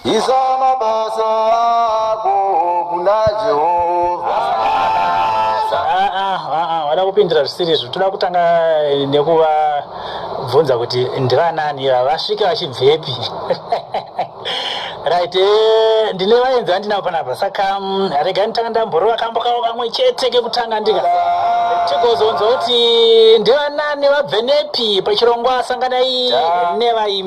Isa mabasa ako kuna Jehovha. Ah, ah, ah, ah, vada kupindira zvisiri izvo toda kutanga eh, nekuvabvunza kuti ndivanani ivava vasvike vachibvepi right eh, ndine vaenzi vandinavo panapa saka mm, rega nditanga ndamborova kambo kavo kamwe chete kekutanga ndika tigozonzwa kuti ndivanani vabve nepi pachirongwa sanganai nevaimi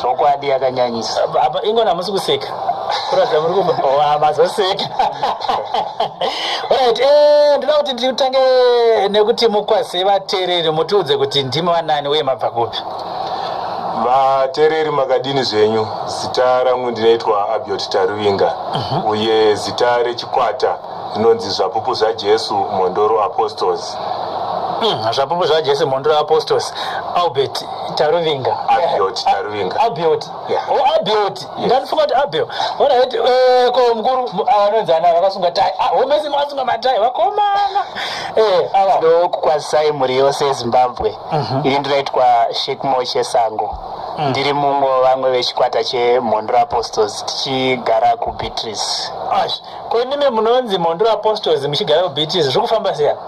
zvokwadi yakanyanyisa apa ingona hamusi kuseka kuratidza muri kumazoseka oh, orit eh, ndinoda kuti nditange nekuti mukwase vateereri mutiudze kuti ndimi vanani uye mabva kupi vateereri makadini zvenyu zita rangu ndinoitwa abiot taruvinga mhm. uye zita rechikwata zvinonzi zvapupu zvajesu mhondoro apostles hmm, zvapupu zvajesu mhondoro apostles albert taruvinga abiot taruvinga abiot o oh, abiot ndandifunga kuti abio orit eh, ko mukuru anonzana vakasunga tai ah, homesi makasunga matai vakomana eh, ava ndokukwazisai mhuri yose yezimbabwe mhm. ini ndinoitwa shekmo chesango Mm. ndiri mumwe vamwe vechikwata chemhondoro apostles tichigara kubeatrice Ko imimi munonzi Mhondoro Apostles muchigara kuBeatrice zviri kufamba sei apa?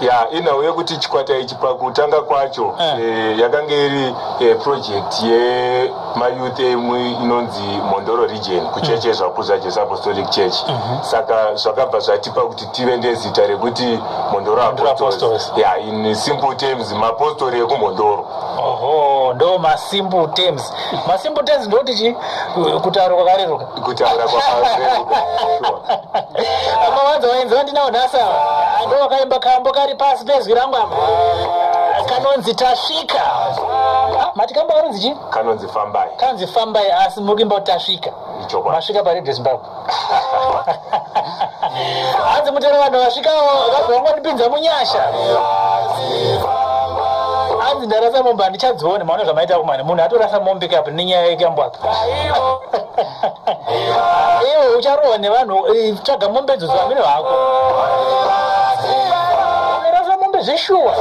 ya inhau yekuti chikwata ichi pakutanga kwacho Eh. eh, yakanga iri eh, project yemayouth emwe inonzi mhondoro region kucheche zvakuza jesu apostolic church saka zvakabva zvatipa kuti tive nezita rekuti mhondoro Mhondoro Apostles. apostles ya in simple terms mapostori ekumhondoro Oho, ndo masimple terms. Masimple terms ndoti chi kutaura kwakareruka. kutaura kwaaakawanza waenzi vandinawo nhasa ando wakaimba kambo kari pasi pezwi rangu apa kanonzi tasvika mati kambo kanonzi chii kanonzi fambai kanonzi fambai asi muri kuimba kuti tasvika masvika paredio zimbabwe hanzi mutero vanhu vasvikawo vakabva vangondipinza munyasha hanzi ndarasa mombe handichadzione maona zvamaita kumani munhu atorasa mombe kapi nenyaya yekambwaka iwe ucharohwa nevanhu eh, tsvaga mombe dzo zvamino hako zeshuwa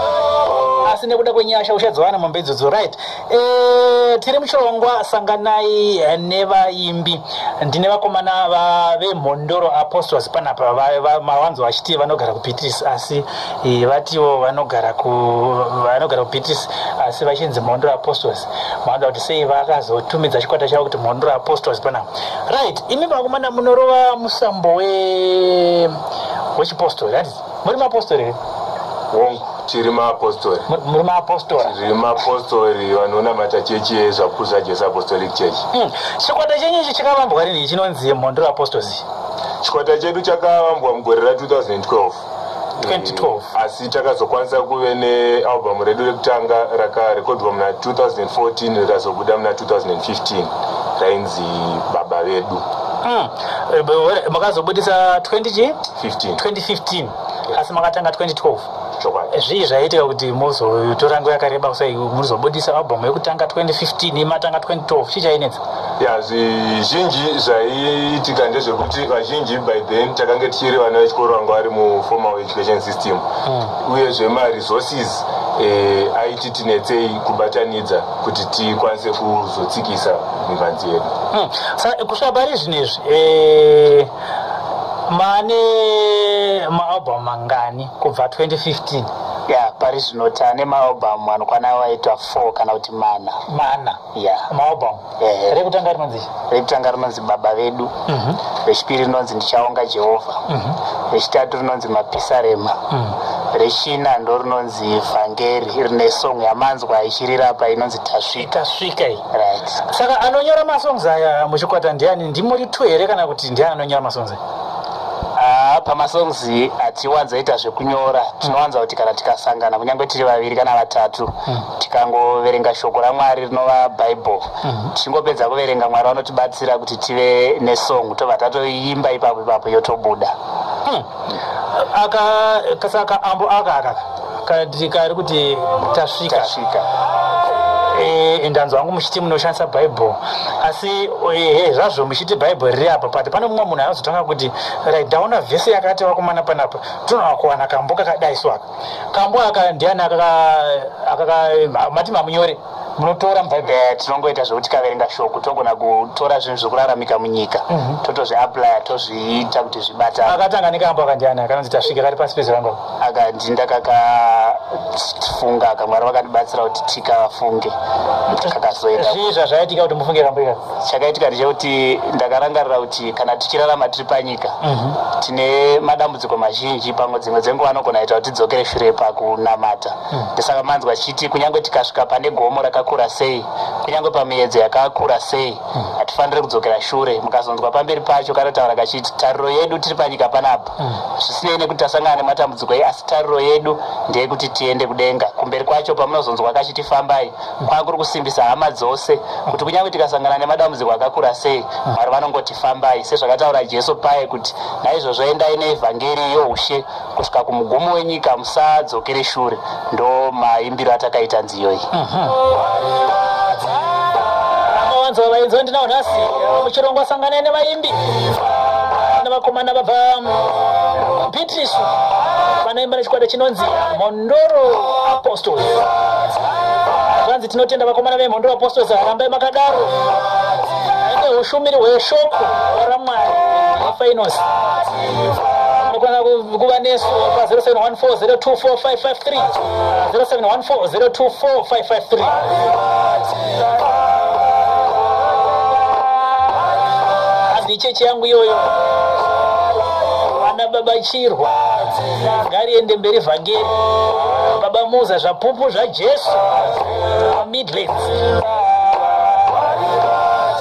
asi nekuda kwenyasha uchadziwana mombe idzodzo right Eh, tiri muchirongwa sanganai eh, nevaimbi ndine vakomana vemhondoro apostles panapa mawanzo vachiti vanogara kubeatrice asi eh, vatiwo vanogara vanogara kubeatrice asi vachinzi mhondoro apostles mawanza kuti sei vakazotumidza chikwata chavo kuti mhondoro apostles panapa right imi vakomana munorova musambo wechipostori muri mapostori here hongu tiri maapostori muri maapostori tiri maapostori vanonamata chechi yezvapupu zvajesu apostolic church hmm. chikwata chenyu ichi chakavambwa rini chinonzi mhondoro apostles chikwata chedu chakavambwa mugore ra 2012 2012 asi takazokwanisa kuve nealbum redu rekutanga rakarekodwa muna 2014 rikazobuda muna 2015 rainzi baba vedu hmm. makazobudisa 2015 asi makatanga 2012 eh, zvii zvaiitika kuti mozotora nguva yakareba kusai muzobudisa album yekutanga 2015 matanga 2012 chii chainetsa ya zvizhinji zvaiitika ndezvekuti vazhinji by then takange tichiri vana vechikoro vanga vari muformal education system hmm. uyezve maresources eh, aiti tinetsei kubatanidza kuti tikwanise kuzotsikisa mhanzi yedu mm. sa kusvika pari zvinezvi eh, mane maalbum mangani kubva 2015 ya pari zvino tane maalbum anokwana waitwa four kana kuti mana mana ya maalbum eh. rekutanga rinonzi rekutanga rinonzi baba vedu mm -hmm. rechipiri rinonzi ndichaonga jehovha mm -hmm. rechitatu rinonzi mapisarema mm -hmm rechina ndo rinonzi vhangeri rine song yamanzwa ichirira apa inonzi tasvika tasvika Right. Saka anonyora masongs aya muchikwata ndiani ndimuri two here kana kuti ndiani anonyora masongs aya? Ah, pamasongs hatiwanzoita zvekunyora tinowanza kuti kana tikasangana kunyange tiri vaviri kana vatatu mm. tikangoverenga shoko ramwari rinova bible mm. tichingopedza kuverenga mwari vanotibatsira kuti tive nesong tobva tatoimba ipapo ipapo yotobuda mm. aka kasaka ambo aka aka kati kari kuti tasvika tasvika eh, ndanzwa hangu muchiti munoshandisa bible asi ehe eh, zvazvo muchiti bible riri apa but pane mumwe munhu anozotanga kuti right ndaona vhese yakati vakomana panapa tinoa kuwana kambo kakadai so aka kambo aka ndiani akaka mati mamunyore munotora mubhaibheri tinongoita zvekuti tikaverenga shoko togona kutora zvinhu zvekuraramika munyika mhm. totozviaplya tozviita kuti zvibateakatanga nekambo akandiani akanonzi tasvika kari pasi pezirango akanzi ndakakafunga akamwari vakandibatsira kuti tikafunge kakazoitazvii zvazvaitika kuti mufunge kambo ika chakaitika ndechekuti ndakarangarira kuti kana tichirarama tiri panyika mhm. tine madambudziko mazhinji pamwe dzimwe dzenguva anogona ita kuti tidzokere shure pakunamata Ndosaka manzwa achiti kunyange tikasvika pane gomo rakakura sei, kunyange pamiyedzo yakakura sei, hatifaniri kudzokera shure. Mukazonzwa pamberi pacho kanotaura kachiti tariro yedu tiri panyika panapa, zvisinei nekuti tasangana nematambudziko ei, asi tariro yedu ndeyekuti tiende kudenga. Kumberi kwacho pamunozonzwa kachiti fambai, kwakuri kusimbisa hama dzose kuti kunyange tikasangana nemadambudziko akakura sei, Mwari vanongoti fambai, sezvakataura Jesu paye kuti, Naizvozvo endai neevhangeri youshe kusvika kumugumo wenyika musadzokere shure ndo maimbiro atakaita nziyo iyi vanzi vavainzwa ndinawo nhasi muchirongwa sanganai nevaimbi nevakomana vabva beatrice vanoimba nechikwata chinonzi mondoro apostles zvanzi tinotenda vakomana vemhondoro apostles rambai makadaro ine ushumiri hweshoko ramwari fainosi Mukwana kuva nesu pa 0714024553 0714024553 chechi yangu iyoyo vana baba chirwa ngariende mberi vhangeri baba muza zvapupu zvajesu midlands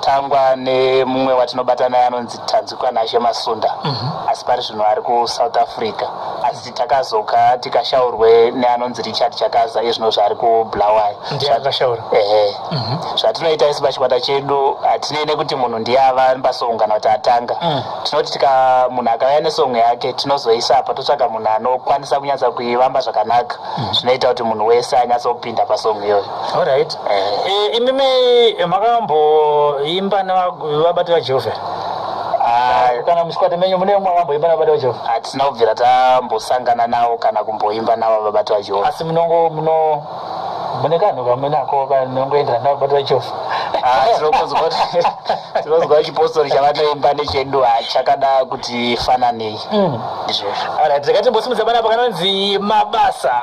tangwa nemumwe watinobata naye anonzi tanzwikwa nashe masunda mm -hmm. asi pari zvino ari kusouth africa asi takazoka tikashaurwe neanonzi richard chakaza iye zvino zvaari kubulawayo ehe mhm. zvatinoita isi pachikwata chedu hatinei nekuti munhu ndiye ava pasoungana kuti atanga mm. tinoti tika munhu akauya nesongo yake tinozoisa apa totsvaga munhu anokwanisa kunyatsa kuivamba zvakanaka mhm. zvinoita kuti munhu wese anyatsokupinda pasongo iyoyo Alright. Eh, imimi makamboimba nevabati vaJehovha here? Ah, kana mushikwata menyu mune umwe wamboimba navabati vaJehovha? hatina kubvira tambosangana navo kana kumboimba navo vabati vaJehovha. Asi munongo muno mune kanhu kamwe nako kanongoenderana navabati vaJehovha. Ah, tinokonzwa kuti- tinonzwa chipostori chavanoimba nechedu hachakada kuti fananei Mm. ndizvozvo Alright, ndakati mbosimudza bana apa kanonzi mabasa.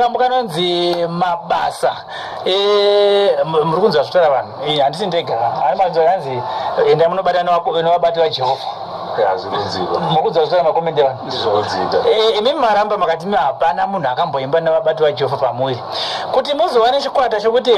kambo kanonzi mabasa eh, muri kunzwa zvitaura vanhu eh, handisi ndega ari manzwa kanzi enda munobata nevabati vajehovha makudzwa zvitaura makomende vanhu eh, imi maramba makati mi hapana munhu akamboimba nevabati vajehovha pamuviri kuti muzowane chikwata chokuti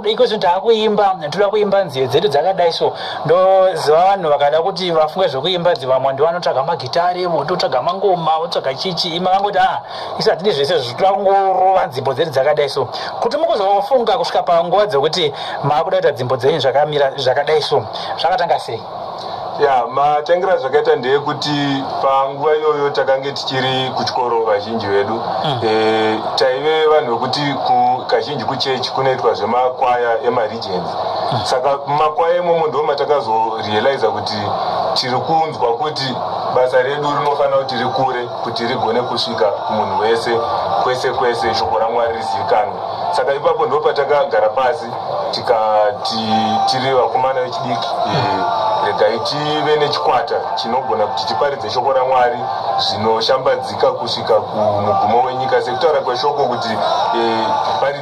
iko zvinhu taakuimba toda kuimba nziyo dzedu dzakadai so ndoziva vanhu vakada kuti vafunge zvekuimba dzivamwe ndi vanotsvaga magitare vototsvaga mangoma votsvaga chichi ima vangoti a ah, isi hatidi zvese zvitangorova nzimbo dzedu dzakadai so kuti mukuzofunga kusvika panguva dzekuti maakuda kuita nzimbo dzenyu zvakamira zvakadai so zvakatanga sei ya matangira zvakaita ndeyekuti panguva iyoyo takange tichiri kuchikoro vazhinji vedu mm. e, taive vanhu vekuti kazhinji kuchechi kunoitwa zvemakwaya emari saka makwaya imomo ndo matakazorealiza kuti tiri kunzwa kuti basa redu rinofanira kuti tiri kure kuti rigone kusvika kumunhu wese kwese kwese shoko ramwari rizivikanwe saka ipapo ndo patakagara pasi tikati tiri vakomana vechidiki regai tive nechikwata chinogona kuti tiparidze shoko ramwari zvinoshambadzika kusvika kumugumo wenyika sekutaura kweshoko kuti eh,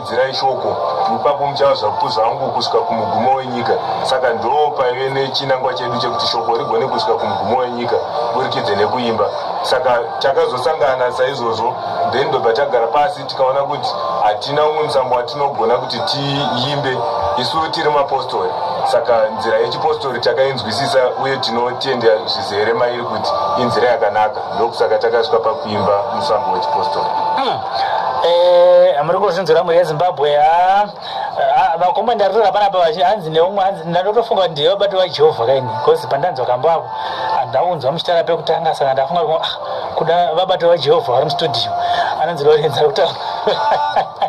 Dzirai shoko ipapo muchava zvakupuza hangu kusvika kumugumo wenyika. Saka ndoo paive nechinangwa chedu chekuti shoko rigone kusvika kumugumo wenyika burikidze nekuimba. Saka takazosangana saizvozvo then ndobva tagara pasi tikaona kuti hatina umwe musambo watinogona kuti tiimbe isu tiri mapostori. Saka nzira yechipostori takainzwisisa uye tinotenda zvizere mairi kuti inzira yakanaka. ndokusaka takasvika pakuimba musambo wechipostori hmm. eh, muri kuzvinzwira mhuri yezimbabwe ah, ah, vakomwe ndaritora panapa vachi hanzi neumwe hanzi ndandotofunga kuti ndiye vabati vajehovha kaini bcause pandanzwa kambo avo andaunzwa muchitara pekutanga saka ndafunga kuti ah, kuda vabati vajehovha vari mustudio anonzi lorenza kutaura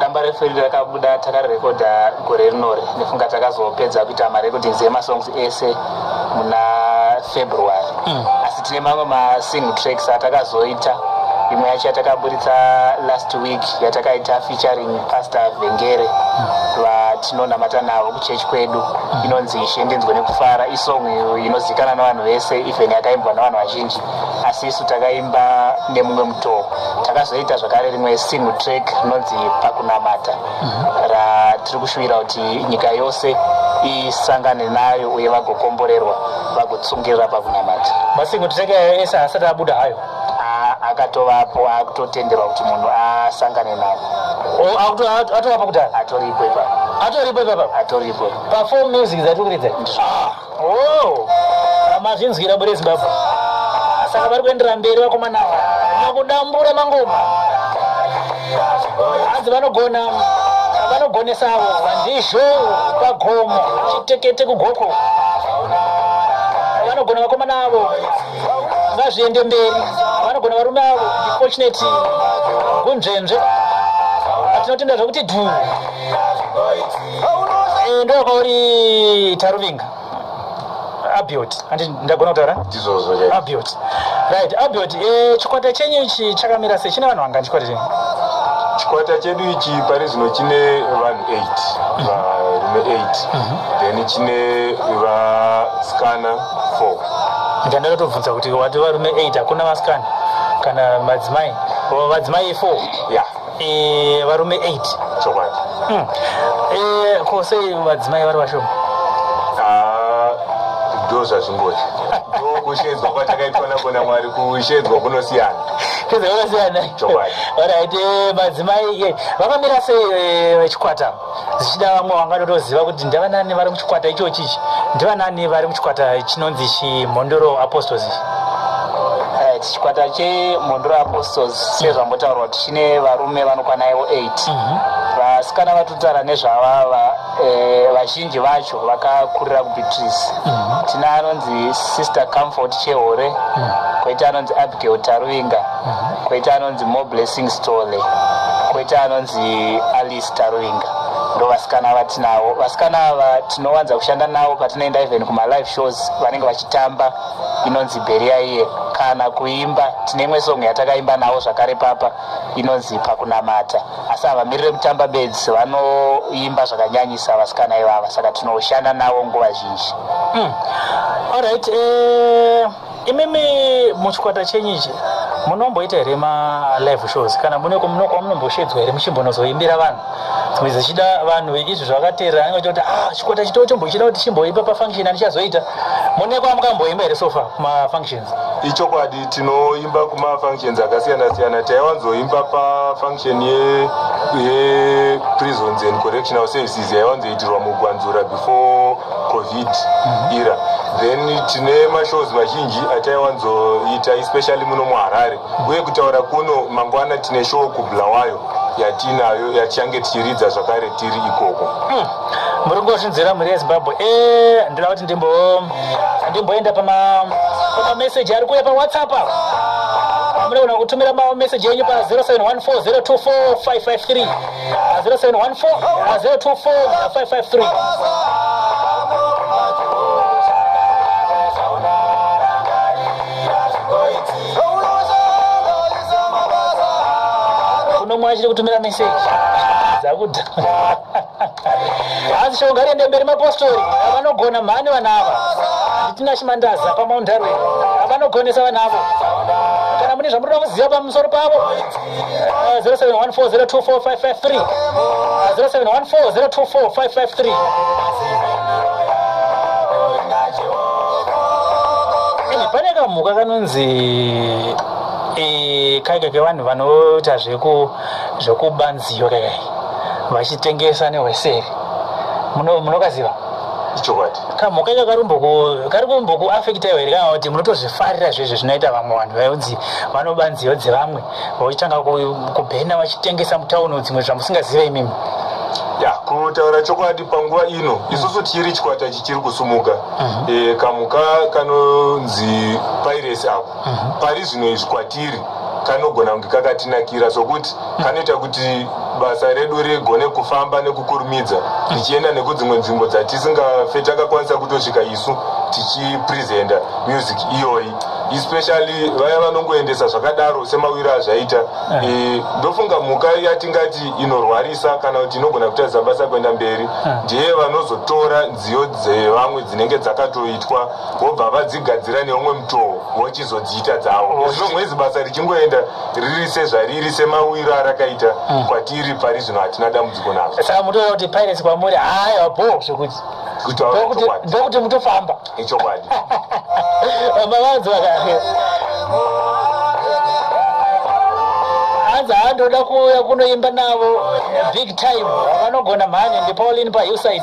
damba refu iri rakabuda takarirekodha gore rinori nefunga takazopedza kuita marecordings emasongs ese muna february mm. asi tine mamwe masing tracks atakazoita imwe yacho yatakaburitsa last week yatakaita featuring pastor vengere mm. vatinonamata navo kuchechi kwedu mm. inonzi ishe ndinzwe nekufara isong inozikana nevanhu vese even yakaimbwa nevanhu vazhinji asi isu takaimba nemumwe mutoo takazoita zvakare rimwe single track rinonzi pakunamata mhm. ratiri kushuvira kuti nyika yose isangane nayo uye vagokomborerwa vagotsungirira pakunamata masingle track ayo ese asati abuda hayo akatovapo akutotenderwa kuti munhu asangane navo atorapa kudhara atoripo ipapa atoripo ipapa atoripo pafom music dzatikuridza ah. Oh, mazvinzwira bure Zimbabwe. Saka vari kuenderera mberi vakomana ava vakudambura mangoma. Hanzi vanogona vanogonesa avo vandizvo pagomo chitekete kugoko vanogona vakomana avo ngazviende mberi vanogona varume avo ndifortunate gunzvenzve atinotenda zvekuti dhuu ndoya kwauri taruvinga abiot andi ndagona kutaura abiot right abiot eh, chikwata chenyu ichi chakamira sei chine vanhu vangani chikwata chenyu chikwata chedu ichi pari zvino chine vanhu 8 varume 8 mhm. then chine vasikana 4 ndandakatobvunza kuti wati varume 8 hakuna vasikana kana madzimai vadzimai 4 ya yeah. Eh, varume 8 chokwadi Hmm. Eh, ko sei vadzimai vari vashoma Ah, ndo zvazvingoti ndo kushedzwa kwatakaitwa nako namwari kushedzwa kunosiyana kizevakasiyana Chokwadi. alright eh, madzimai eh, vakamira sei eh, vechikwata zvichida vamwe vanga totoziva kuti ndevanani vari muchikwata ichochi ichi ndevanani vari muchikwata chinonzi chimhondoro apostles eh, chikwata chemhondoro apostles sezvambotaurwa kuti chine varume vanokwana ivo 8 mhm. vasikana vatotara nezvavava eh, vazhinji vacho vakakurira kubeatrice mhm. tina anonzi sister comfort chehore mhm. koita anonzi abigail taruvinga koita anonzi more blessing story koita anonzi Peace Taruvinga ndovasikana vatinavo vasikana ava tinowanza kushanda navo patinoenda even kumalive shows vanenge vachitamba inonzi beria iye kana kuimba tine imwe song yatakaimba navo zvakare papa inonzi pakunamata asi havamirire kutamba bedzi vanoimba zvakanyanyisa vasikana ivava saka tinoshanda navo nguva zhinji mm. Alright, eh... Imimi muchikwata chenyu ichi munomboita here ma live shows kana mune muno kwamunomboshedzwa here muchimbonozoimbira vanhu dzimwe dzichida vanhu veizvi zvakateerera anenge achita kuti ah chikwata chitoo chombochida kuti chimboimba pafunction andichazoita mune kwamukamboimba here sofa kumafunctions ichokwadi tinoimba kumafunctions akasiyana siyana taiwanzoimba pafunction ye, ye prisons and correctional services yaiwanzoitirwa mugwanzura before covid era then tine mashows mazhinji ataiwanzoita especially muno muharare uye kutaura kuno mangwana tine show kubulawayo yatiinayo yatichange tichiridza zvakare tiri ikoko hmm. muri kungozvinzwira mhuri yezimbabwe e eh, ndoda kuti ndimbo ndimboenda pamameseji ari kuuya pawhatsapp ava munogona kutumira mameseji enyu pa 0714 024 553 unomwe achiri kutumira meseji dzakuda hanzi shonga riende mberi mapostori avanogona mhani vana ava nditina chimandaza pamaundarwe avanogonesa vana avo kana mune zvamurida kuziva pamusoro pavo 0714024553 0714024553 pane kamhuka kanonzi eh, kaika kevanhu vanoita zvekuba nziyo kaikai vachitengesa nehweseri munokaziva ichokwadi kamhuka ika kari kumboku afekitaiwa here kana kuti munotozvifarira zvezve zvinoita vamwe vanhu vaunzi vanoba nziyo dzevamwe vachitanga kubhena vachitengesa mutauni dzimwe zvamusingazive imimi ya kutaura chokwadi panguva ino mm. isusu tiri chikwata chichiri kusumuka mm-hmm. eh, kamhuka kanonzi piracy ako mhm. pari zvino izvi kwatiri kanogona kunge kakatinakira sokuti kanoita kuti basa redu rigone kufamba nekukurumidza tichienda nekudzimwe nzvimbo dzatisingafe takakwanisa kutosvika isu tichipresenta music iyoyi especially vaya vanongoendesa zvakadaro semawiro azvaita eh. Eh, ndofunga mhuka yatingati inorwarisa kana kuti inogona kutadza basa kuenda mberi eh. ndiye vanozotora nziyo dzevamwe dzinenge dzakatoitwa vobva vadzigadzira neumwe mutoo vochizodziita dzavo zvino mwezi basa richingoenda riri sezvariri semawiro arakaita mm. kwatiri pari zvino hatina dambudziko nazvo saka mutoona kuti pirates kwamuri haya bho zvekuti ndokuti mutofamba ichokwadi mavanzi vakati hanzi handoda kuuya kunoimba navo big time vanogona mhani ndipaulin pauside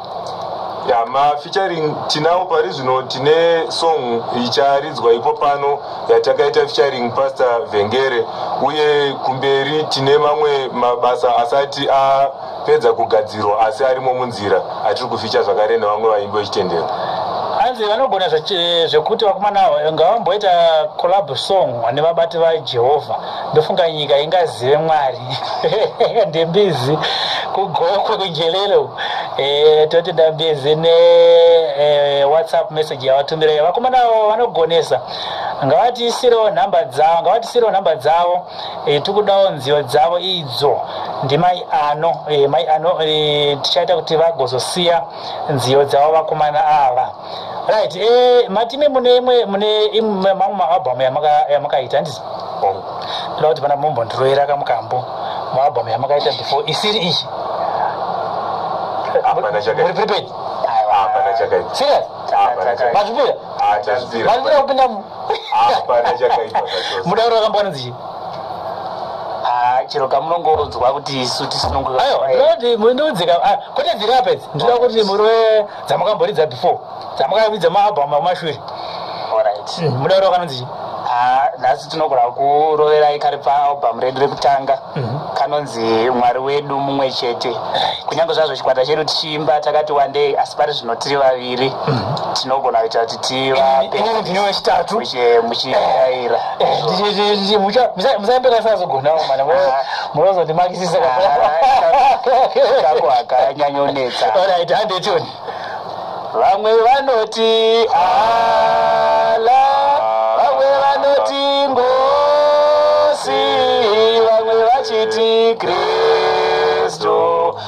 ya mafeaturing tinawo pari zvino tine song icharidzwa ipo pano yatakaita featuring pastor vhengere uye kumberi tine mamwe mabasa asati apedza kugadzirwa asi arimo munzira atiri kuficha zvakare nevamwe vaimbi vechitendero hanzi vanogona zvekuti vakomana ava ngavamboita collab song nevabati vajehovha ndofunga nyika ingazive mwari ndembizi kugokwe kunjelelo e, eh, toti ndambizi ne e, whatsapp message yavatumirayo vakomana avo vanogonesa ngavatiisirewo nhamba dzavo ngavatiisirewo nhamba dzavo e, tikudawo nziyo dzavo idzo ndimai ano e, mai ano e, tichaita kuti vagozosiya nziyo dzavo vakomana ava right eh, matimi mune imwe mune imwe mamwe maalbum yamakaita handizi ndoda kuti pana mombo ndiroera kamukambo maalbum yamakaita before isiri iyi muri prepaid serious mazvipira mazvipira kupinda mudauro wakambwana dzichi chero kamunongonzwa kuti isu tisinongoayo ndoti mundiudzika ah, kwete dzirapedzi ndinoda kuti murwe dzamakamboridza before dzamakavidza maalbum akumashure hmm, muda kutaura kanonzi chii ah, nhasi tinogona kuroverai kari paalbum redu rekutanga mhm. kanonzi mwari wedu mumwe chete kunyange zvazvo chikwata chedu tichiimba takati wandei asi pari zvino tiri vaviri mhm. tinogona kuita kuti tivaemuchiaira eh, eh, eh, musaembekasazogonawo mana ah. munozondimakisisa kako akanyanyonetsa orit hande tuni vamwe vanoti ala vamwe vanoti ngosi vamwe vachiti kri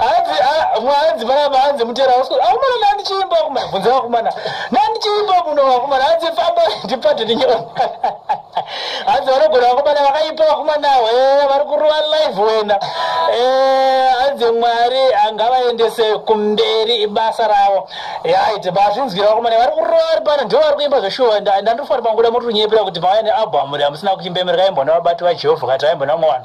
hanzi ah, mwanzi vaya vanzi mutera wasko akumana nandichiimba kumana bvunza vakumana nandichiimba muno vakumana hanzi famba ndipate ndinyona hanzi vanogona vakomana vakaipa vakomanawo eh, vari kuruva live wena eh, hanzi mwari angavaendese kumberi ibasa ravo yaite bazvinzwira vakomana vari kuruva vari pano ndivo vari kuimba zveshuwa ndandofanira manguda motonyepera kuti vauya nealbum ramusina kuimbemereka imbona vabati vajehovha kati vaimbona mwana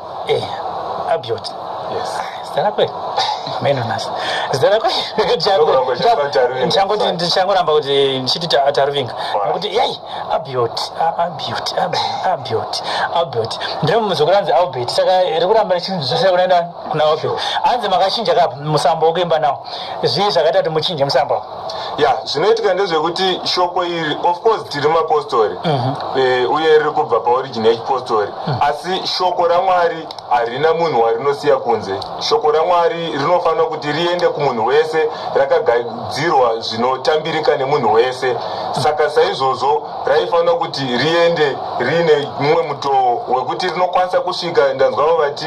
Eh, Abiot. Yes. Zita rako iri. Hameno nhasi. Zita rako iri. Ndokuramba uchisema Taruvinga. Ndichangoti ndichangoramba kuti ndichiti Ta- Taruvinga. Why? Nokuti yai Abiot, A- Abiot, Abi- Abiot, Abiot. Ndiri muzukuru anzi Albert. Saka iri kuramba richizosera kunaenda kuna Abiot. Anzi makachinja kapi musambo wokuimba nawo. Zvii zvakaita kuti muchinje musambo? ya zvinoitika ndezvekuti shoko iri of course tiri mapostori mhm. eh, uye riri kubva paorigini yechipostori mhm. asi shoko ramwari harina munhu warinosiya kunze shoko ramwari rinofanira kuti riende kumunhu wese rakagadzirwa zvinotambirika nemunhu wese saka saizvozvo raifanira kuti riende riine mumwe mutoo wekuti rinokwanisa kusvika ndanzwavo vati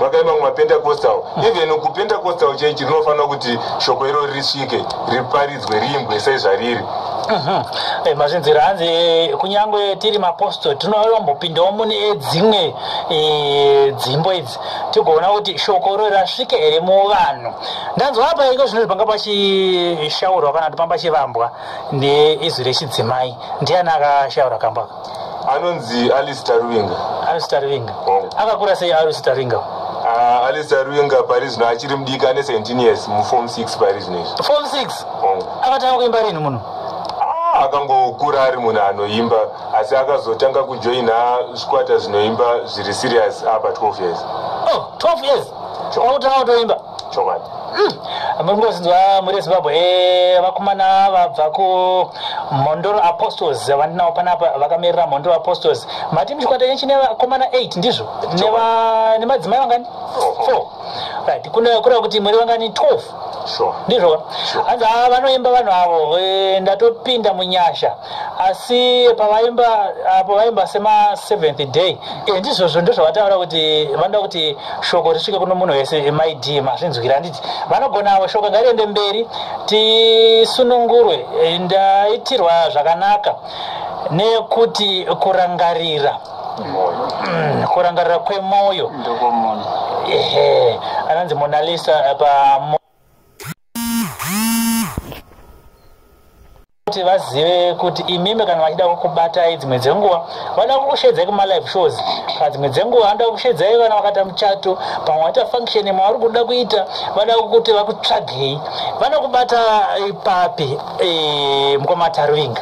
vakaima kumapentacostal hmm. even kupentacostal chechi rinofanira kuti shoko irori risvike riparidzwe riimbwe sezvariri mhm. eh, mazvinzira hanzi eh, kunyange tiri maposto tinoambopindawo mune dzimwe eh, dzimbo idzi tigoona kuti shoko irori rasvike here muvanhu ndanzwa apa iko zvinoi panga pachishaurwa kana kuti pamba chivambwa neizwi rechidzimai ndiani akashaura kamba anonzi alice taruvinga alice taruvinga oh. akakura sei alice taruvinga ah, alice taruvinga pari zvino achiri mudiki ane 17 years mufom 6 pari zvino izvi fom 6 oh. akatanga kuimba rini munhu ah, akangokura ari munhu anoimba asi akazotanga kujoina zvikwata zvinoimba zviri serious apa 12 years oh, 12 years wakutanga kutoimba chokwadi hmm. muri kungozinzwa muri yezimbabwe eh, vakomana vabva kumhondoro apostles vandinawo panapa vakamirira mhondoro apostles mati muchikwata chenchi nevakomana 8 ndizvo nemadzimai vangani four right kureva kuti muri vangani 12 ndizvo hanzi vanoimba vanhu avo eh, ndatopinda munyasha asi pavaimba apo vaimba semaseventh day eh, ndizvozvo ndozvavataura kuti vanoda kuti shoko risvike kuno munhu wese mid mazvinzwira handiti vanogonavo shoko ngariende mberi tisunungurwe eh, ndaitirwa zvakanaka nekuti kurangarira mm, kurangarira kwemwoyo anonzi monalisa eh, pa kuti vazive kuti imimi kana vachida kukubatai dzimwe dzenguva vanoda kukushedzai kumalive shows kana dzimwe dzenguva vanoda kukushedzai vana vakaita muchato pamwe vaita function mavari kuda kuita vada kuti vakutsvagei vanokubata ipapi eh, mukoma tarvinga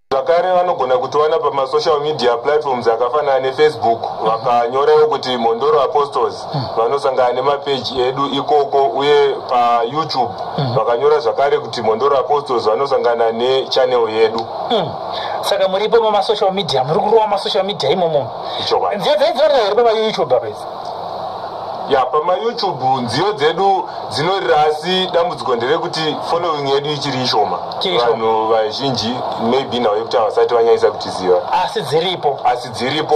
zvakare vanogona kutiwana pamasocial media platforms akafanana nefacebook vakanyorawo kuti mhondoro apostles vanosangana nemapeji edu ikoko uye payoutube mhm. vakanyora zvakare kuti mhondoro apostles vanosangana nechannel yedu mm. saka muripo mamasocial media muri kurova masocial media imomo nziyo dzaidzorera here pamayoutube apaizi ya pamayoutube nziyo dzedu dzinorira asi dambudziko nderekuti following yedu ichiri ishoma vanhu vazhinji maybe nhau yekuti havasati vanyanyisa kutiziva asi dziripo asi dziripo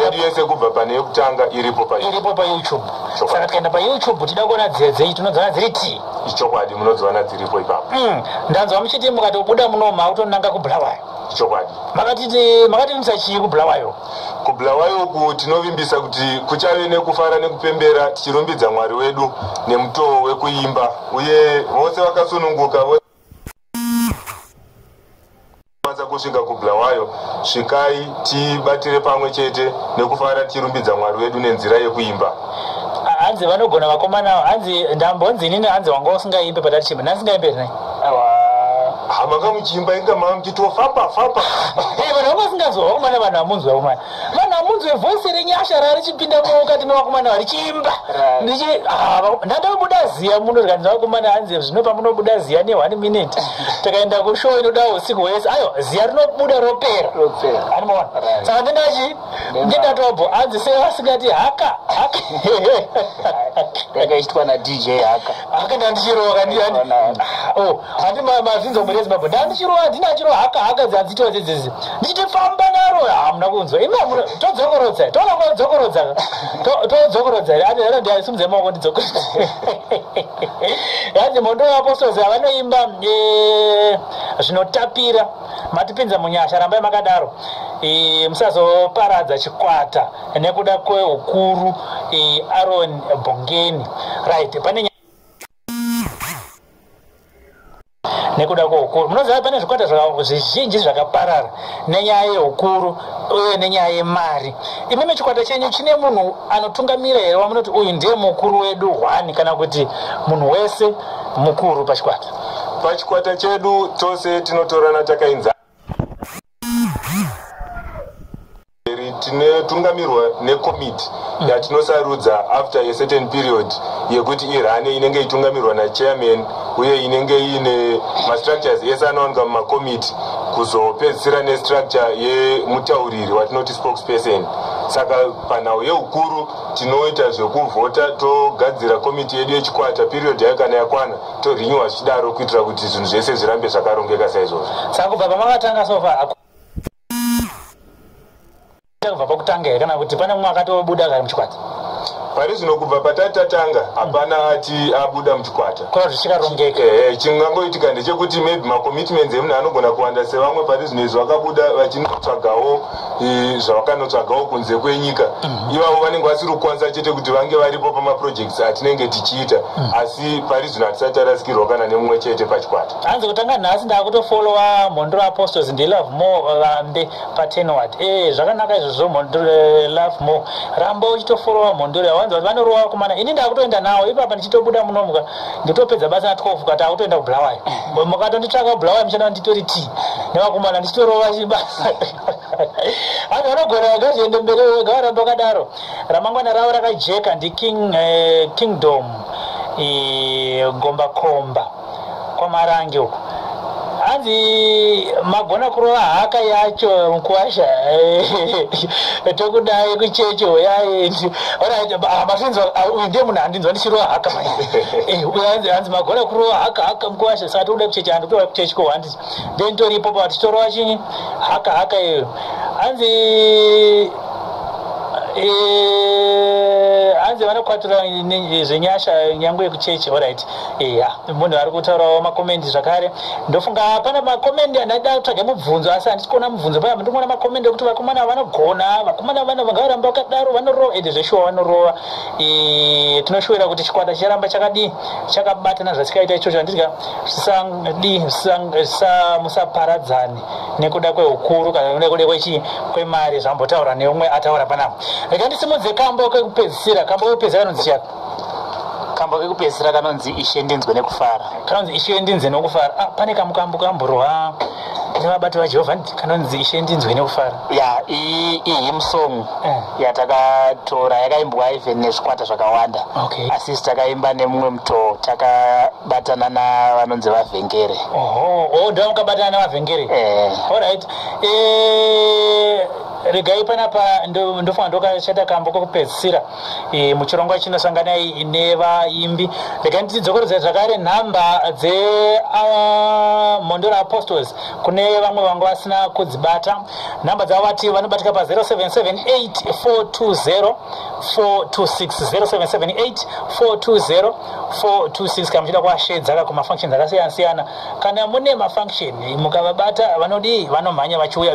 yedu yese kubva pane yekutanga iripo pairipo payoutube saka tikaenda payoutube tida kuona dziya dzei tinodziona dziri ti ichokwadi munodziona dziripo ipapo hmm, ndanzwa muchiti mukatobuda munoma kutonanga kubulawayo chokwadi makatiti makativimbisa chii kubulawayo kubulawayo uku tinovimbisa kuti kuchave nekufara nekupembera tichirumbidza mwari wedu nemutoo wekuimba uye vose vakasununguka kwanisa kusvika kubulawayo svikai tibatire pamwe chete nekufara tichirumbidza mwari wedu nenzira yekuimba hanzi vanogona vakomana hanzi ndambonzi inini hanzi wanga usingaimbe patatichimba ndansingaimbe hre hamanga muchimba inga mava muchitiwo famba famba eh, vanhu vakasinganzwa vakomana vanhu vamunzwa vakomana vanhu vamunzwa voice renyasha rarichipinda mukati mevakomana varichimba ah, ndandabuda ziya muno rikanzi vakomana hanzi zvino pamunobuda ziya ne one minute takaenda kushow inoda usiku hwese ayo ziya rinobuda ropera animaona saka ndendachi ndendatobho hanzi sevasingati haka haka yakaitwa nadj haka haka ndandichirowa kandiyani o handi mazinza omwere zimbabwe ndandichirowa handina achirowa haka haka dzadzitiwa dzedzezi ndichiti famba naro hamuna kunzwa imi hamuna todzokorodza toona kwa dzokorodza todzokorodza here ati hera ndiaisumudza maoko ndidzokorodza yanzi mondo vaapostozi havanoimba eh, zvinotapira matipinza munyasha rambai makadaro eh, musazoparadza chikwata nekuda kweukuru eh, aron bongeni right pane nekuda kweukuru munoziva pane zvikwata zvizhinji zvakaparara nenyaya yeukuru uye nenyaya yemari imimi chikwata chenyu chine munhu anotungamira here wamunoti uyu ndiye mukuru wedu hwani kana kuti munhu wese mukuru pachikwata pachikwata chedu tose tinotorana takainzaa tinotungamirwa nekomiti yatinosarudza after a certain period yekuti irane inenge itungamirwa nachairman uye inenge iine mastructures ese anowanika mumakomiti kuzopedzisira nestructure yemutauriri watinoti spokesperson saka panhau yeukuru tinoita zvekuvhota togadzira komiti yedu yechikwata period yayo kana yakwana torenewer zvichidaro kuitira kuti zvinhu zvese zvirambe zvakarongeka saizvozvo saka kubva pamakatanga sofa kubva pakutanga here kana kuti pane mumwe akatobuda kari muchikwata pari zvino kubva patati tatanga hapana ati abuda muchikwata kona kuti zvichikarongeka ehe chingangoitika ndechekuti maybe macommitments emunhu anogona kuwanda sevamwe pari zvino izvo vakabuda vachinotsvagawo e, zvavakanotsvagawo kunze kwenyika mhm. ivavo vanenge vasiri kukwanisa chete kuti vange varipo pamaprojects atinenge tichiita mhm. asi pari zvino hatisati tarasikirwa kana nemumwe chete pachikwata hanzi kutanga nhasi ndakutofolowa mhondoro apostles ndelove more vambe patenward e zvakanaka izvozvo mhondoro eh, love more ramba uchitofolowa mhondoro yawanzi vanorowa kumana ini ndakutoenda nawo ipapa ndichitobuda munomuka ndotopedza basa na 12 kati akutoenda kubulawayo mm. mukatonditsvaka kubulawayo muchana nditori ti nevakomana ndichitorova chibasa hanzi vanogona vagazviende mberi wega varamba wakadaro ramangwana ravo rakajeka ndiking eh, kingdom eh, gombakomba kwamarange uku hanzi magona kurova haka yacho mukwasha tokudai kuchechi hoyai masinzi ah, uyu ndiye munhu andinzwa ndichirova haka eh, hanzi magona kurova haka haka mukwasha saka tokuda kuchechi handikutoa kuchechi ko handizi then toripo pa tichitorowa chini haka haka iyo hanzi eh, hanzi vanokwatura zvenyasha nyangwe yekuchechi horit eya munhu ari kutaurawo makomendi zvakare ndofunga pana makomendi andaida kutsvaga mubvunzo asi handisi kuona mubvunzo paya ndikuona makomendi ekuti vakomana vanogona vakomana vana vangavaramba vakadaro vanorova ende zveshuwa vanorova tinoshuwira kuti chikwata chicharamba chakadii chakabatana zvasikaita ichocho handidya zvisadii musaparadzani nekuda kweukuru kana nekuda kwechii kwemari zvambotaura neumwe ataura panapa rega ndisimudze kambo kekupedzisira kambo kekupedzisira kanonzi chiyaka kambo kekupedzisira kanonzi ishe ndinzwe nekufara kanonzi ishe ndinzwe nekufara ah, pane kambo kambo kamborwa nevabati vajehovha kanonzi ishe ndinzwe nekufara ya ihim song eh. yatakatora yakaimbwa even nezvikwata zvakawanda asisi takaimba nemumwe mutoo takabatana navanonzi vavhengere oda oh, mukabatana nevavhengere eh. allright eh, regai panapa ndofanira ndokachata kambo kokupedzisira e, muchirongwa chino sanganai nevaimbi regai nditidzokorodza zvakare nhamba dzemhondoro ah, uh, apostles kune vamwe vanga vasina kudzibata nhamba dzavo vati vanobatika pa 0778420426 0778420426 kana muchida kuashedzaka kumafunctions akasiyana siyana Kana mune mafunction mukavabata vanodii vanomhanya vachiuya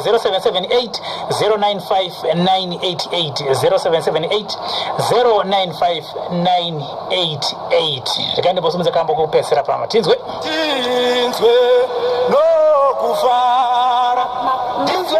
0778095988 zvikandiposimudza kambo kupesera pama tinzwe tinzwe nokufara tinzwe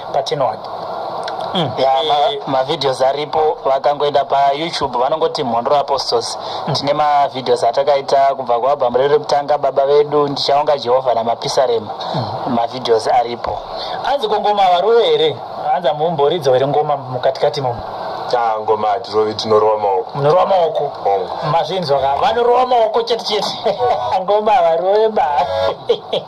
patinoona mm. ya mavideos ma eh, aripo vakangoenda payoutube vanongoti mhondoro apostles mm. tine mavideos atakaita kubva kualbhamu redu rekutanga baba vedu ndichaonga jehovha namapisarema mm. mavideos aripo anzi kongoma varove here anzi amumboridzo here ngoma mukatikati momo ah, ngoma hatirove tinorowa maoko munorowa maoko mazvinzwa ka vanorowa maoko chete chete ngoma varove ba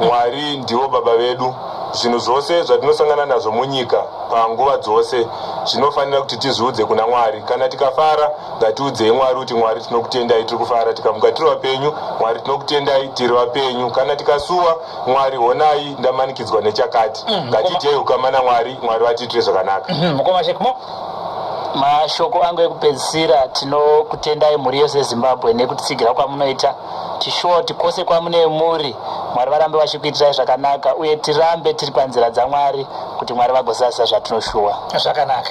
Mwari ndivo Baba vedu. Zvinhu zvose zvatinosangana nazvo munyika panguva dzose zvinofanira kuti tizviudze kuna Mwari. Kana tikafara, ngatiudzei Mwari kuti Mwari tinokutendai tiri kufara. Tikamuka tiri vapenyu, Mwari tinokutendai tiri vapenyu. Kana tikasuwa, Mwari honai ndamanikidzwa nechakati. Mm, Ngatiitei ukama naMwari, Mwari vatiitire zvakanaka. Mm, mukoma Shekmo. Mashoko angu ekupedzisira tinokutendai mhuri yose yeZimbabwe nekutitsigira kwamunoita. chishort kwose kwamunee muri mwari varambe vachikuitirai zvakanaka uye tirambe tiri panzira dzamwari kuti mwari vagozadzisa zvatinoshuwa zvakanaka